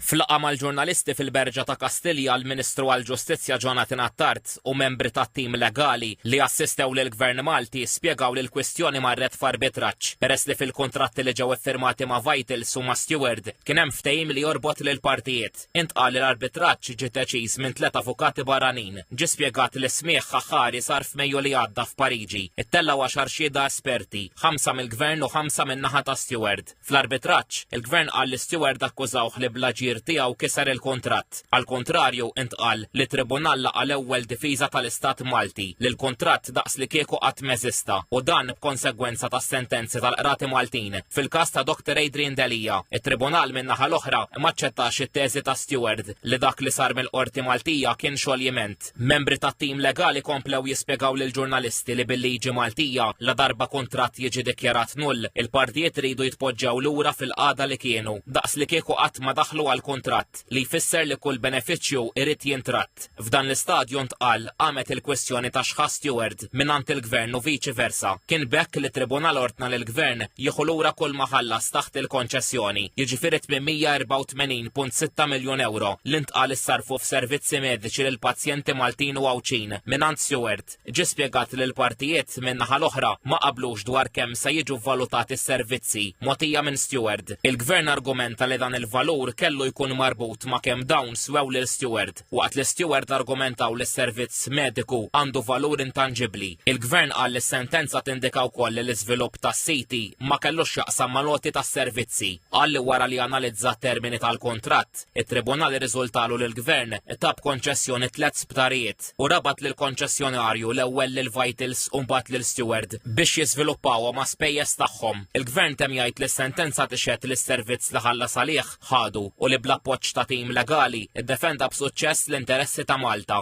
F'laqgħa mal-ġurnalisti fil-Berġa ta' Kastilja l-Ministru għall-Ġustizzja Jonathan Attard u membri tat-tim legali li assistew lill-Gvern Malti spjegaw li l-kwistjoni marret f'arbitraġġ peress li fil-kuntratti li ġew iffirmati ma' Vitals u ma' Steward kien hemm ftehim li jorbot lill-partijiet. Intqal li l-arbitraġġ ġie deċiż minn tliet avukati barranin. Ġie spjegat li smigħ aħħari sar f'Mejju li għadda f'Pariġi. Ittellgħu għaxar xhieda esperti, ħamsa mill-Gvern u ħamsa min-naħa ta' Steward. Fl-arbitraġġ, il-Gvern qal li Steward akkużawh li bl-aġir tiegħu kiser il-kuntratt. Għall-kuntrarju, intqal li t-Tribunal laqa' l-ewwel difiża tal-Istat Malti, li l-kuntratt daqslikieku qatt m'eżista, u dan b'konsegwenza tas-sentenzi tal-Qrati Maltin. Fil-każ ta' Doctor Adrian Delia, it-Tribunal min-naħa l-oħra m'aċċettax it-teżi ta' Steward li dak li sar mill-Qorti Maltija kien xoljiment. Membri tat-tim legali komplew jispjegaw lill-ġurnalisti li bil-liġi Maltija, ladarba kuntratt jiġi dikjarat null, il-partijiet iridu jitpoġġew lura fil-qagħda li kienu, daqs li kieku qatt ma daħlu għal kuntratt, li jfisser li kull benefiċċju irid jintratt. F'dan l-istadju ntqal, qamet il-kwistjoni ta' x'ħa Steward. Għaqad mingħand il-Gvern u viċi versa. Kien b'hekk li t-Tribunal ordna lill-Gvern jieħu lura kull ma ħallas taħt il-konċessjoni, jiġifieri 884.6 miljun ewro li ntqal issarrfu f'servizzi mediċi lill-pazjenti Maltin u Għawdxin mingħand Seward. Ġie spjegat li l-partijiet, min-naħa l-oħra, ma qablux dwar kemm se jiġu vvalutati s-servizzi mogħtija minn Seward. Il-Gvern argumenta li dan il-valur kellu jkun marbut ma' kemm dawn swew lil Seward. Waqt li Steward argumentaw li s-servizz mediku għandu valur intanġibbli, il-Gvern qal li s-sentenza tindika wkoll li l-iżvilupp tas-siti ma kellux x'jaqsam mal-għoti tas-servizzi. Qal li wara li analizza t-termini tal-kuntratt, it-Tribunal irriżultalu li l-Gvern ta b'konċessjoni tliet sptarijiet u rabat lill-konċessjonarju l-ewwel lil Vitals u mbagħad lil Steward biex jiżviluppawhom għas-spejjeż tagħhom. Il-Gvern temm jgħid li s-sentenza tixhed li s-servizz li ħallas għalih ħadu u li bl-appoġġ ta' tim legali ddefenda b'suċċess l-interessi ta' Malta.